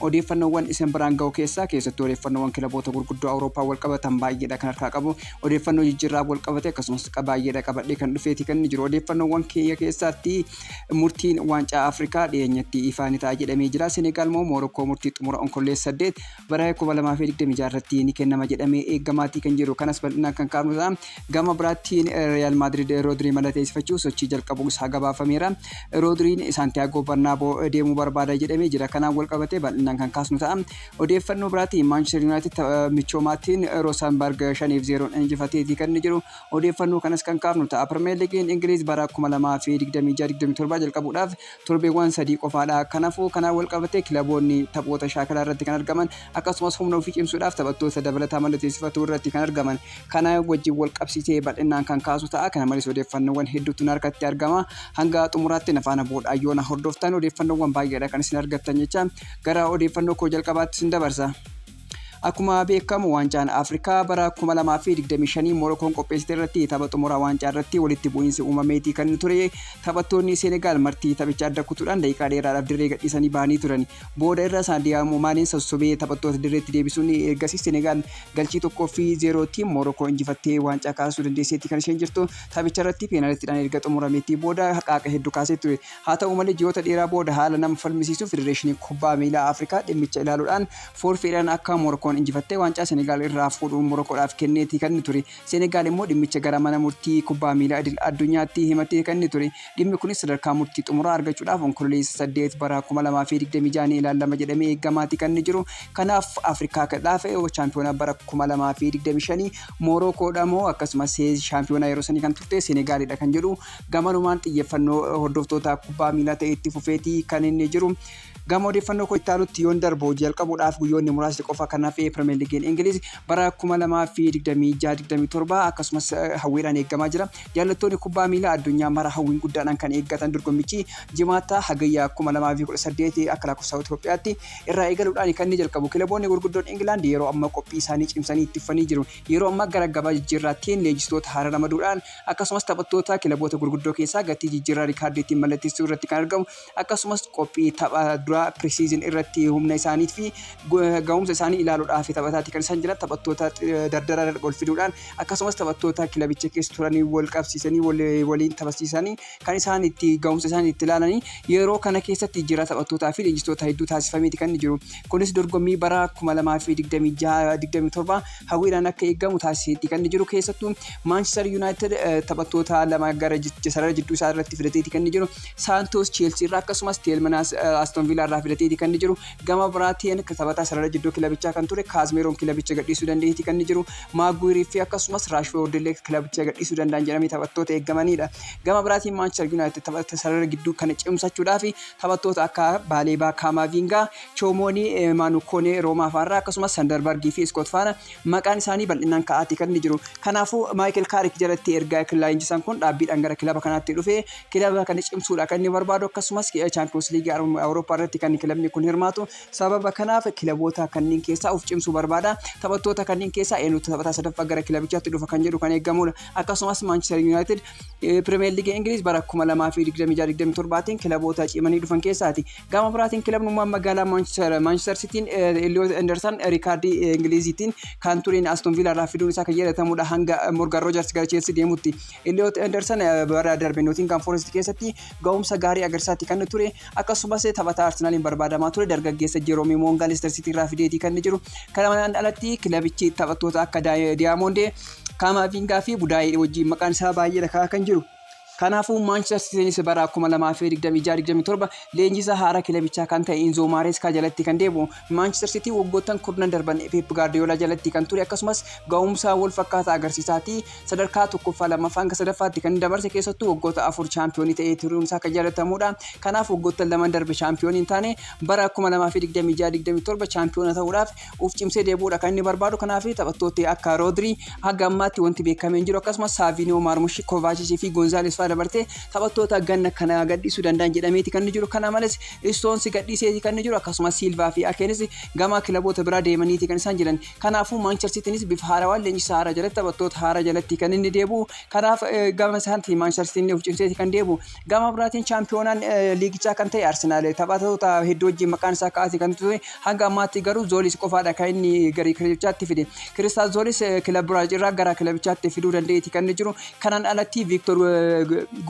Odeeffannoowwan isin biraan ga'u keessaa keessattuu odeeffannoowwan kilaboota gurguddoo Awurooppaan walqabatan baay'eedha kan harkaa qabu. Odeeffannoo jijjiirraa walqabate akkasumas baay'eedha qabadhee kan dhufeeti kan inni jiru. Odeeffannoowwan kiyya keessaatti murtiin waancaa Afrikaa dhiyeenyatti ifaa ni ta'a jedhamee jira. Senegaal moo Moorokkoo murtii xumura Onkolleessa 8 bara 2026 irratti ni kennama jedhamee eegamaatii kan jiru. Kanas bal'inaan kan kaafnu ta'a. Gama biraattiin Riyaal Maadriid Roodrii malateessifachuuf sochii jalqabuu isaa gabaafameera. Roodriin Saantiyaagoo Barnaaboo deemuu barbaada jedhamee jira. Kanaan walqabatee bal'inaan kan kaasnu ta'a. Odeeffannoo biraatiin Maanchister Yuunaayitid tapha michoomaatiin Roosaanbarg 5 fi 0 injifateetii kan inni jiru. Odeeffannoo kanas kan kaafnu ta'a. Pirimeer Liigiin Ingiliiz bara 2026-27 jalqabuudhaaf torbeewwaan sadii qofaadha. Kanafuu kanaan walqabatee kilaboonni taphoota shaakalaa irratti kan argaman akkasumas humna ofii cimsuudhaaf taphattoota dabalataa mallateessifatuu irratti kan argaman kana wajjin walqabsiisee bal'innaan kan kaasu ta'a. Kana malees odeeffannoowwan hedduutu na harkatti argama. Hanga xumuraatti na faana bu'uudhaan yoo na hordoftan odeeffannoowwan baay'eedha kan isin argattan jecha gara odeeffannoo koo jalqabaatti isin dabarsa. Akkuma beekamu waancaan Afrikaa bara 2025 Morokoon qopheessite irratti tapha xumuraa waancaa irratti walitti bu'iinsi uumameetii kan ture taphattoonni Seenegaal martii taphicha adda kutuudhaan daqiiqaa dheeraadhaaf dirree gadhiisanii bahanii turan. Booda irra Saadiyaamoo Maaneen sossobee taphattoota dirreetti deebisuun ergasii Seenegaal galchii tokkoo fi zeerootiin Morokoo injifattee waancaa kaasuu dandeesseetti kan isheen jirtu. Taphicha irratti peenaalitidhaan erga xumurameetii booda haqaaqa hedduu kaasee ture. Haa ta'u malee ji'oota dheeraa booda haala nama falmisiisuun Federeeshiniin Kubbaa Miilaa Afrikaa dhimmicha ilaaluudhaan Foorfeedhaan akka Morokoon injifatte waancaa Senegaal irraa fuudhuun Morokoodhaaf kenneeti kan inni ture. Senegaal immoo dhimmicha gara mana murtii kubbaa miilaa idil addunyaatti himatee kan inni ture. Dhimmi kunis sadarkaa murtii xumuraa argachuudhaaf Onkololeessa 8 bara 2026 ni ilaallama jedhamee eegamaati kan inni jiru. Kanaaf Afrikaa Kdhaaf chaampiyoona bara 2025 Morokoodha moo akkasumas shaampiyoona yeroo sanii kan turte Senegaalidha kan jedhu gamanumaan xiyyeeffannoo hordoftoota kubbaa miilaa ta'ee itti fufeeti kan inni jiru. Gama odeeffannoo koo itti aanutti yoon darbu hojii jalqabuudhaaf guyyoonni muraasni qofa kan hafe Pirimeer Liigiin Ingiliiz bara 2026-27 akkasumas hawwiidhaan eegamaa jira. Jaallattoonni kubbaa miilaa addunyaa mara hawwiin guddaadhaan kan eeggatan dorgommichi Jimaata hagayya 2018 akka lakkoofsa Itoophiyaatti irraa eegaluudhaan kan inni jalqabu. Kilaboonni gurguddoon Ingilaand yeroo ammaa qophii isaanii cimsanii itti fufanii jiru. Yeroo ammaa gara gabaa jijjiirraattiin leenjistoota haaraa ramaduudhaan akkasumas taphattoota kilaboota gurguddoo keessaa gatii jijjiirraa riikaardiitiin mallatteessuu irratti kan argamu akkasumas qophii tapha duraa pre-season irratti humna isaanii fi gahumsa isaanii ilaaluudhaaf taphataatti kan isaan jiran taphattoota dardaraa ol fiduudhaan akkasumas taphattoota kilabicha keessa turanii wal qabsiisanii waliin taphachiisanii kan isaan itti gahumsa isaanii itti ilaalanii yeroo kana keessatti jira taphattootaa fi leenjistoota hedduu taasifameeti kan jiru. Kunis dorgommii bara 2026-27 hawwiidhaan akka eegamu taasiseeti kan jiru keessattuu Manchester United taphattoota lama gara sarara jidduu isaa irratti fidateeti kan jiru. Saantoos Cheelsii irraa akkasumas Teelmanaas Aston Viilaa irraa filateeti kan inni jiru. Gama biraatiin taphataa sarara jidduu kilabichaa kan ture Kaazmeeroon kilabicha gadhiisuu danda'eeti kan inni jiru. Maaguwirii fi akkasumas Raashfoord illee kilabicha gadhiisuu danda'an jedhamee taphattoota eegamanidha. Gama biraatiin Maanchister Yuunaayitid taphata sarara gidduu kana cimsachuudhaaf taphattoota akka Baaleebaa, Kaamaaviingaa, Choomoonii, Maanu Koonee Roomaa faarraa akkasumas Sandarbargii fi Iskoot faana maqaan isaanii bal'inaan ka'aati kan inni jiru. Kanaafuu Maayikel Kaarik jalatti erga leenjisaan kun dhaabbiidhaan gara kilaba kanaatti dhufee kilaba kana cimsuudha kan inni barbaadu akkasumas chaampiyoons liigii awurooppaa irratti kan kilabni kun hirmaatu sababa kanaaf kilaboota kanneen keessaa of cimsuu barbaada taphattoota kanneen keessaa eenyutu taphataa sadaffaa gara kilabichaatti dhufa kan jedhu kan eegamudha akkasumas maanchister yuunaayitid pirimeer liigii ingiliiz bara 2026-27tiin kilaboota cimanii dhufan keessaati gama biraatiin kilabnummaan magaalaa maanchister sitiin eliyoot endersan riikaardii ingiliiziitiin kan tureen aston viilaa irraa fiduun isaa kan yaadatamudha hanga morgan roojars gara cheelsii deemutti Iliyoot Endersan bara darbe Nootingaam Forest keessatti ga'umsa gaarii agarsiisaatti kan ture akkasumas taphataa Arsenaaliin barbaadamaa ture dargaggeessa Jeroomii Moongaa Leester Siitii irraa fideetii kan jiru. Kana manaan alatti kilabichi taphattoota akka Diyaamoondee, Kaamaaviingaa fi Budaayee wajjin maqaan isaa baay'ee lakkaa'aa kan jiru. Kanaafuu Maanchister Siitiinis bara 2026-27 leenjisaa haaraa kilabichaa kan ta'e Inzoo Maareeskaa jalatti kan deebi'u. Maanchister Siitii waggoottan kurnan darban Peep Gaardiyoolaa jalatti kan ture akkasumas ga'umsa wal fakkaataa agarsiisaati. sadarkaa 1ffaa, 2ffaa hanga 3ffaatti kan dabarse keessattuu waggoota afur chaampiyoonii ta'ee turuun isaa kan yaadatamuudha. Kanaaf waggoottan lamaan darbe chaampiyoonii hin taane bara 2026-27 chaampiyoona ta'uudhaaf uf cimsee deebi'uudha kan inni barbaadu. Kanaaf taphattooti akka Roodrii haga ammaatti wanti beekamee hin jiru. Akkasumas Saaviiniyoo, Maarmush, Kovaachis fi Gonzaalees fa'aa dabartee taphattoota ganna kana gadhiisuu danda'an jedhameeti kan inni jiru. Kana malees Istoonsi gadhiiseeti kan inni jiru. Akkasumas Siilvaa fi Akeenis gama kilaboota biraa deemaniiti kan isaan jiran. Kanaafuu Maanchester Siitiinis bifa haarawaan leenjisaa haaraa jalatti taphattoota haaraa jalatti kan inni deebi'u. Kanaaf gama isaatti Maanchester Siitiin of cimseeti kan deebi'u. Gama biraatiin chaampiyoonaan liigichaa kan ta'e Arsenaal taphattoota hedduu wajjin maqaan isaa ka'aati kan ture. Hanga ammaatti garuu Zoolis qofaadha kan inni gara kilabichaatti fide. Kiristaal Zoolis kilab Biraazil irraa gara kilabichaatti fiduu danda'eeti kan inni jiru. Kanaan alatti Viiktor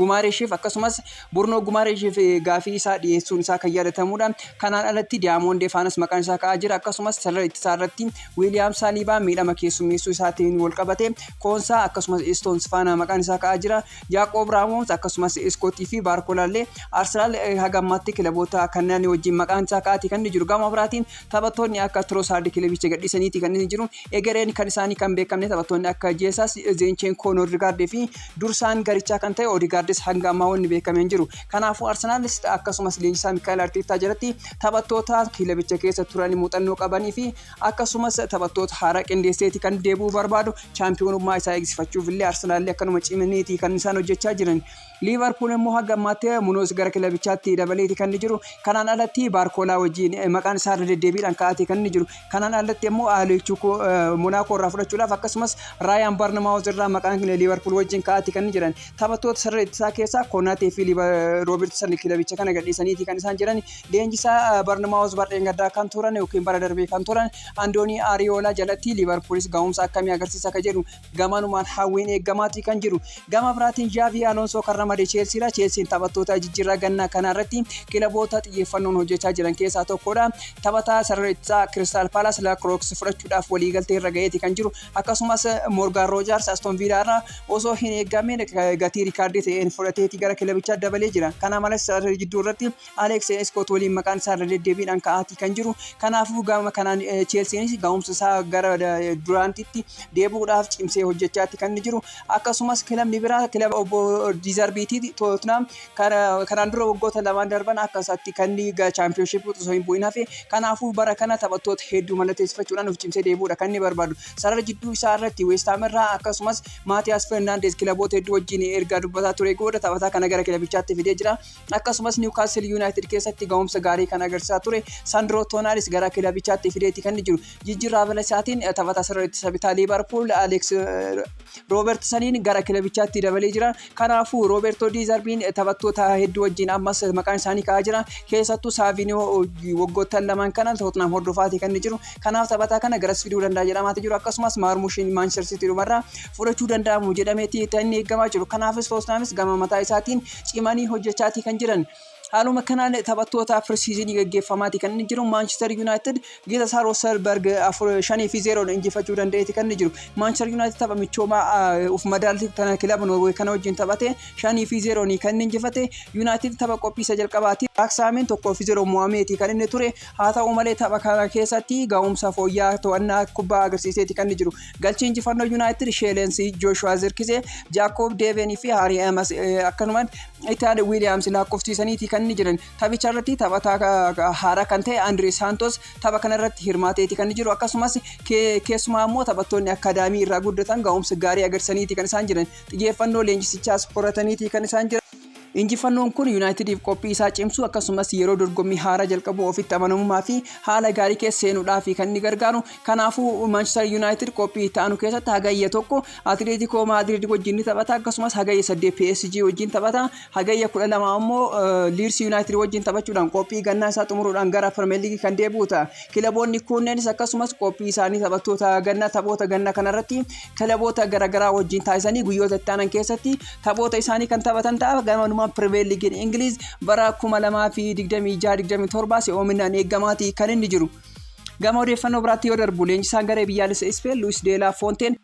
Gumaareeshiif akkasumas Burno Gumareshiif gaaffii isaa dhiyeessuun isaa kan yaadatamuudha. Kanaan alatti Diyaamond Defaanus maqaan isaa ka'aa jira. Akkasumas sarara ittisaa irratti Wiiliyaam Saaliibaa miidhama keessummeessuu isaatiin walqabate Koonsaa akkasumas Istoons faana maqaan isaa ka'aa jira. Yaaqoob Raamoons akkasumas Iskootii fi Baarkolaallee Arsenaal haga ammaatti kilaboota kanneen wajjin maqaan isaa ka'aati kan inni jiru. Gama biraatiin taphattoonni akka Tirosaardi kilabicha gadhiisaniiti kan inni jiru. Egereen kan isaanii kan beekamne taphattoonni akka Jeesaas, Zeencheenkoo, Noordigaard fi dursaan garichaa kan ta'e Oodigaardis hanga ammaa wanni beekame hin jiru. Kanaafuu Arsenaalis akkasumas leenjisaa Mikaa'el Arteettaa jalatti taphattoota kilabicha keessa turan muuxannoo qabanii fi akkasumas taphattoota haaraa qindeesseeti kan deebi'uu barbaadu. Chaampiyoonummaa isaa eegsifachuuf illee Arsenaalli akkanuma cimaniiti kan isaan hojjechaa jiran. Liivarpuul immoo hanga ammaatti Munoos gara kilabichaatti dabaleeti kan inni jiru. Kanaan alatti Baarkoolaa wajjin maqaan isaa irra deddeebiidhaan ka'aatee kan inni jiru. Kanaan alatti immoo Aleechukoo Monaakoo irraa fudhachuudhaaf akkasumas Raayaan Barnamaawuz irraa maqaan Liivarpuul wajjin ka'aatee kan inni jiran. Taphattoota sarara ittisaa keessaa Konaatee fi Roobertsan kilabicha kana gadhiisaniiti kan isaan jiran. Leenjisaa Barnamaawuz barreen gaddaa kan turan yookiin bara darbee kan turan Andoonii Ariyoolaa jalatti Liivarpuulis gahumsa akkamii agarsiisa akka jedhu Gamanumaan hawwiin eegamaatii kan jiru. Gama biraatiin Zhaavii Aloonsoo kan ramade Cheelsiidha. Cheelsiin taphattoota jijjiirraa ganna kanaa irratti kilaboota xiyyeeffannoon hojjechaa jiran keessaa tokkodha. Taphataa sarara ittisaa Kiristaal Paalaas Laakirooks fudhachuudhaaf waliigaltee irra ga'eeti kan jiru. Akkasumas Moorgaan Roojaars Aston Viilaa irraa osoo hin eegamiin gatii riikaardii ta'een fudhateeti gara kilabichaa dabalee jira. Kana malees sarara jidduu irratti Aleeks Iskoot waliin maqaan isaa irra deddeebiidhaan ka'aatii kan jiru. Kanaafuu gama kanaan Cheelsiinis ga'umsa isaa gara duraantitti deebi'uudhaaf cimsee hojjechaatti kan jiru. Akkasumas kilabni biraa kilaba obbo Diizarbiitii Tootnaam kanaan dura waggoota lamaan darban akka isaatti kan chaampiyoonshippii osoo hin bu'in hafe. Kanaafuu bara kana taphattoota hedduu mallatteessifachuudhaan of cimsee deebi'uudha kan inni barbaadu. Sarara jidduu isaa irratti Weestaam irraa akkasumas Maatiyaas Fernaandeez kilaboota hedduu wajjin erga dubbataa ture booda taphataa kana gara kilabichaatti fidee jira. Akkasumas Niwkaasil Yuunaayitid keessatti ga'umsa gaarii kan agarsiisaa ture Sandroo Toonaalis gara kilabichaatti fideeti kan jiru. Jijjiirraa Valasiyaatiin taphataa sarara ittisa bitaa Liivarpuul Aleeks Roobertsaniin gara kilabichaatti dabalee jira. Kanaafuu Roobertoo Diizarbiin taphattoota hedduu wajjin ammas maqaan isaanii ka'aa jira. Keessattuu Saaviniyoo waggoottan lamaan kana Tottenham hordofaati kan jiru. Kanaaf taphataa kana garas fiduu danda'a jedhamaati jiru. Akkasumas Maarmushiin Maanchester Sitii dhumarraa fudhachuu danda'amu jedhameeti kan inni eegamaa jiru. Kanaafis Tottenhamis gama mataa isaatiin cimanii hojjechaatii kan jiran. Haaluma kanaan taphattootaaf pirsiizinii gaggeeffamaati kan inni jiru. Maanchister Yuunaayitid gita isaa Rooselberg afur shanii fi zeeroon injifachuu danda'eeti kan inni jiru. Maanchister Yuunaayitid tapha michoomaa ah, of madaalti kana kilaba Noorwee kana wajjin taphate shanii fi zeeroon kan inni injifate. Yuunaayitid tapha qophiisa jalqabaati. Raaksaamiin tokkoo fi zeeroon mo'ameeti kan inni ture. Haa ta'u malee tapha kana keessatti ga'umsa fooyya'aa to'annaa kubbaa agarsiiseeti kan inni jiru. Galchii injifannoo Yuunaayitid Sheelensii Jooshuwaa Zirkizee, Jaakoob Deeveenii fi Haarii Emas akkanumaan Itaad Wiiliyaams lakkoofsiisaniiti kan inni jiran. Taphicha irratti taphataa haaraa kan ta'e Andiree Saantos tapha kana irratti hirmaateeti kan inni jiru. Akkasumas keessumaa immoo taphattoonni akkaadaamii irraa guddatan ga'umsa gaarii agarsiisaniiti kan isaan jiran. Xiyyeeffannoo leenjisichaas horataniiti kan isaan jiran. Injifannoon kun Yunaayitidiif qophii isaa cimsuu akkasumas yeroo dorgommii haaraa jalqabuu ofitti amanamummaa fi haala gaarii keessa seenuudhaaf kan inni gargaaru. Kanaafuu Maanchister Yunaayitid qophii itti aanu keessatti hagayya tokko Atileetikoo Maadriid wajjin ni taphata akkasumas hagayya 8 PSG wajjin taphata hagayya 12 ammoo Liids Yunaayitid wajjin taphachuudhaan qophii gannaa isaa xumuruudhaan gara Pirimeer Liigii kan deebi'u ta'a. Kilaboonni kunneenis akkasumas qophii isaanii taphattoota ganna taphoota ganna kanarratti kilaboota garaagaraa wajjin taasisanii guyyoota itti aanan keessatti taphoota isaanii kan taphatan ta'a. Gamanumaan Pirimeer Liigiin Ingiliiz bara 2026-27 si'oominaan eeggamaati kan inni jiru. Gama odeeffannoo biraatti yoo darbu leenjisaan garee biyyaalessa Ispeen Luis Deelaa Foonteen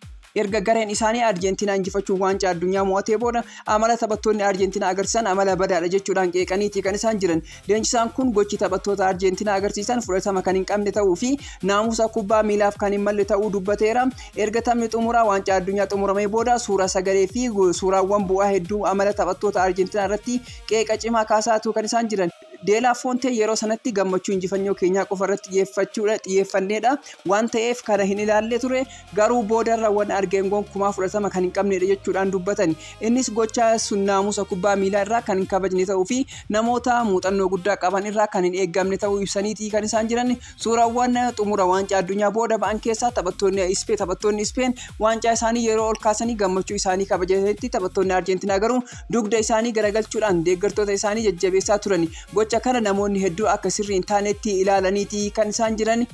erga gareen isaanii Arjentiinaa injifachuun waancaa addunyaa mo'atee booda amala taphattoonni Arjentiinaa agarsiisan amala badaadha jechuudhaan qeeqaniiti kan isaan jiran. Leenjisaan kun gochi taphattoota Arjeentinaa agarsiisan fudhatama kan hin qabne ta'uu fi naamusa kubbaa miilaaf kan hin malle ta'uu dubbateera. Erga taphni xumuraa waancaa addunyaa xumuramee booda suura sagalee fi suuraawwan bu'aa hedduu amala taphattoota Arjeentinaa irratti qeeqa cimaa kaasaa tuu kan isaan jiran. De La Fonte yeroo sanatti gammachuu injifannoo keenyaa qofa irratti xiyyeeffachuudha xiyyeeffanneedha waan ta'eef kana hin ilaalle ture. Garuu boodarra wan argeen gonkumaa fudhatama kan hin qabneedha jechuudhaan dubbatani. Innis gocha sun naamusa kubbaa miilaa irraa kan hin kabajne ta'uu fi namoota muuxannoo guddaa qaban irraa kan hin eeggamne ta'uu ibsaniiti kan isaan jiran. Suurawwan xumura Waancaa Addunyaa booda ba'an keessaa taphattoonni Ispeen taphattoonni Ispeen waancaa isaanii yeroo ol kaasanii gammachuu isaanii kabajatanitti taphattoonni Arjeentinaa garuu dugda isaanii garagalchuudhaan deeggartoota isaanii jajjabeessaa turani. Gocha kana namoonni hedduu akka sirrii hin taaneetti ilaalaniiti kan isaan jiran.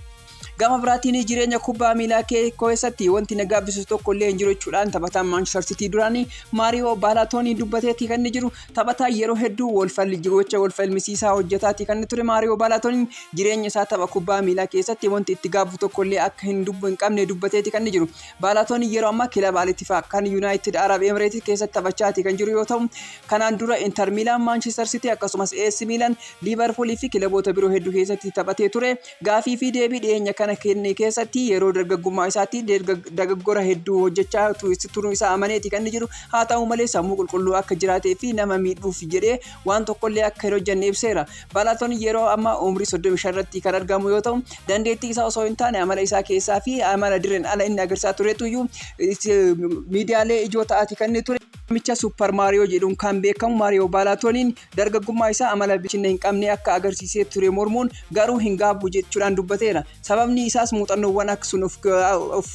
Gama biraatiin jireenya kubbaa miilaa kee keessatti wanti na gaabbisu tokko illee hin jiru jechuudhaan taphataan Maanchister Sitii duraanii Maariyoo Baalaatoonii dubbateetii kan inni jiru taphataa yeroo hedduu walfalli gocha walfalmisiisaa hojjetaatii kan inni ture Maariyoo Baalaatooniin jireenya isaa tapha kubbaa miilaa keessatti wanti itti gaabbu tokko illee akka hin dubbu hin qabne dubbateetii kan inni jiru Baalaatooniin yeroo ammaa kilaba Alitifaa kan Yuunaayitid Arab Emireetii keessatti taphachaatii kan jiru yoo ta'u kanaan dura Inter Miilaan Maanchister Sitii akkasumas AS Miilaan Liivarpuulii fi kilaboota biroo hedduu keessatti taphatee ture Gaafii fi deebii dhiyeenya kana kenne keessatti yeroo dargaggummaa isaatti dagaggora hedduu hojjechaa turuu isaa amaneeti kan inni jiru. Haa ta'u malee sammuu qulqulluu akka jiraatee fi nama miidhuuf jedhee waan tokkollee akka hin hojjenne ibseera. Balaton yeroo amma umrii 35 irratti kan argamu yoo ta'u dandeettii isaa osoo hin taane amala isaa keessaa fi amala dirreen ala inni agarsiisaa turetu iyyuu miidiyaalee ijoo ta'aati kan inni ture. Namicha Super Mario jedhuun kan beekamu Mario Balatoniin Dargaggummaa isaa amala bilchinna hin qabne akka agarsiisee ture mormuun, garuu hin gaabbu jechuudhaan dubbateera. Sababni isaas muuxannoowwan akka sun of of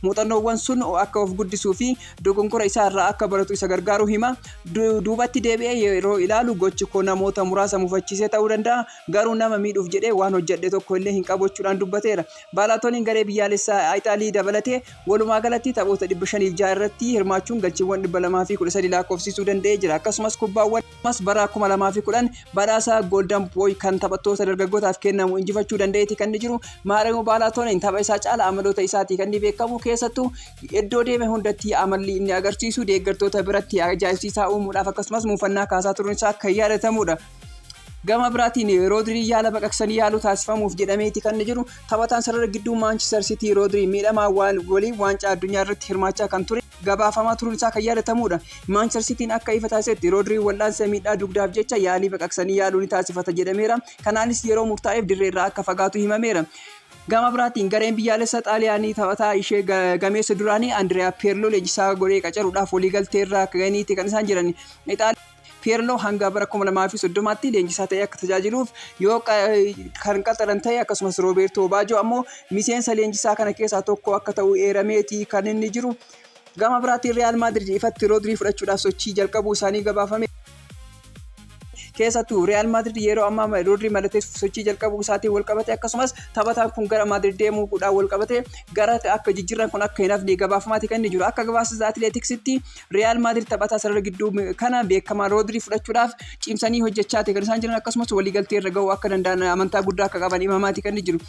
muuxannoowwan sun akka of guddisuu fi dogonkora isaa irraa akka baratu isa gargaaruu hima. Du, duubatti deebi'ee yeroo ilaalu gochi koo namoota muraasa mufachiisee ta'uu danda'a, garuu nama miidhuuf jedhee waan hojjedhe tokko illee hin qabu jechuudhaan dubbateera. Baalaatooniin garee biyyaalessaa Itaalii dabalatee Walumaa galatti taphoota 506 irratti hirmaachuun galchiiwwan 213 laakkoofsiisuu danda'ee jira. Akkasumas kubbaawwan ammas bara 2010 badhaasa Golden Boy kan taphattoota dargaggootaaf kennamu injifachuu danda'eeti kan inni jiru. Maaremo Baalaatooniin tapha isaa caala amaloota isaatii kan inni beekamu keessattuu iddoo deeme hundatti amalli inni agarsiisu deeggartoota biratti ajaa'ibsiisaa uumuudhaaf akkasumas muufannaa kaasaa turuun isaa kan yaadatamuudha. Gama biraatiin Roodriin yaala baqaqsanii yaaluu taasifamuuf jedhameeti kan inni jiru. Taphataan sarara gidduu Maanchister Sitii Roodriin miidhamaa waliin waancaa addunyaa irratti hirmaachaa kan ture gabaafamaa turuun isaa kan yaadatamudha. Maanchister Sitiin akka ifa taasisetti Roodriin wal'aansa miidhaa dugdaaf jecha yaalii baqaqsanii yaaluu ni taasifata jedhameera. Kanaanis yeroo murtaa'eef dirree irraa akka fagaatu himameera. Gama biraatiin gareen biyyaalessa Xaaliyaanii taphataa ishee ga- gameessa duraanii Andiriyaa Peerloo leenjisaa godhee qacaruudhaaf waliigaltee irra akka ga'aniiti kan isaan jiran. Ixaal- Piirloo hanga bara 2030tti leenjisaa ta'ee akka tajaajiluuf yoo kan qaxaran ta'e akkasumas Roobeertoo Baajoo ammoo miseensa leenjisaa kana keessaa tokko akka ta'u eerameeti kan inni jiru. Gama biraatiin Riyaal Maadrid ifatti Roodrii fudhachuudhaaf sochii jalqabuu isaanii gabaafame. Keessattuu Riyaal Maadrid yeroo ammaa Roodrii mallateessuuf sochii jalqabuu isaatiin walqabate akkasumas taphataan kun gara Maadrid deemuudhaan walqabate gara akka jijjiirraan kun akka hin hafne gabaafamaati kan inni jiru. Akka gabaasa Atileetiksitti Riyaal Maadirid taphataa sarara gidduu kana beekamaa Roodirii fudhachuudhaaf cimsanii hojjechaa ta'e kan isaan jiran akkasumas waliigaltee irra ga'uu akka danda'an amantaa guddaa akka qaban himamaati kan jiru.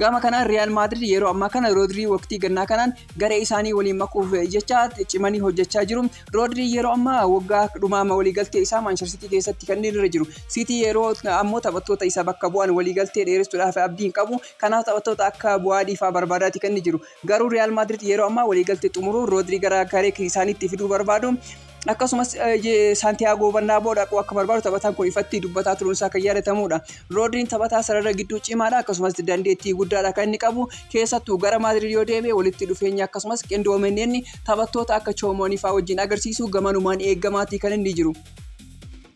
Gama kanaan Riyaal Maadirid yeroo ammaa kana Roodirii waqtii gannaa kanaan garee isaanii waliin makuuf jecha cimanii hojjechaa jiru. Roodirii yeroo ammaa waggaa dhumaa waliigaltee isaa Maanchester Siitii keessatti kan inni irra jiru. Siitii yeroo ammoo taphattoota isa bakka bu'an waliigaltee dheeressuudhaaf abdii hin qabu. Kanaaf taphattoota akka Bu'aadii fa'aa barbaadaati kan inni jiru. Garuu Riyaal Maadrid yeroo ammaa waliigaltee xumuruun Roodrii gara garee isaaniitti fiduu barbaadu. Akkasumas Saantiyaagoo Barnaaboo dhaquu akka barbaadu taphataan kun ifatti dubbataa turuun isaa kan yaadatamudha. Roodriin taphataa sarara gidduu cimaadha akkasumas dandeettii guddaadha kan inni qabu. Keessattuu gara Maadrid yoo deebi'e walitti dhufeenya akkasumas qindoomenneenni taphattoota akka Choomoonii fa'aa wajjin agarsiisu gamanumaan eegamaatii kan inni jiru.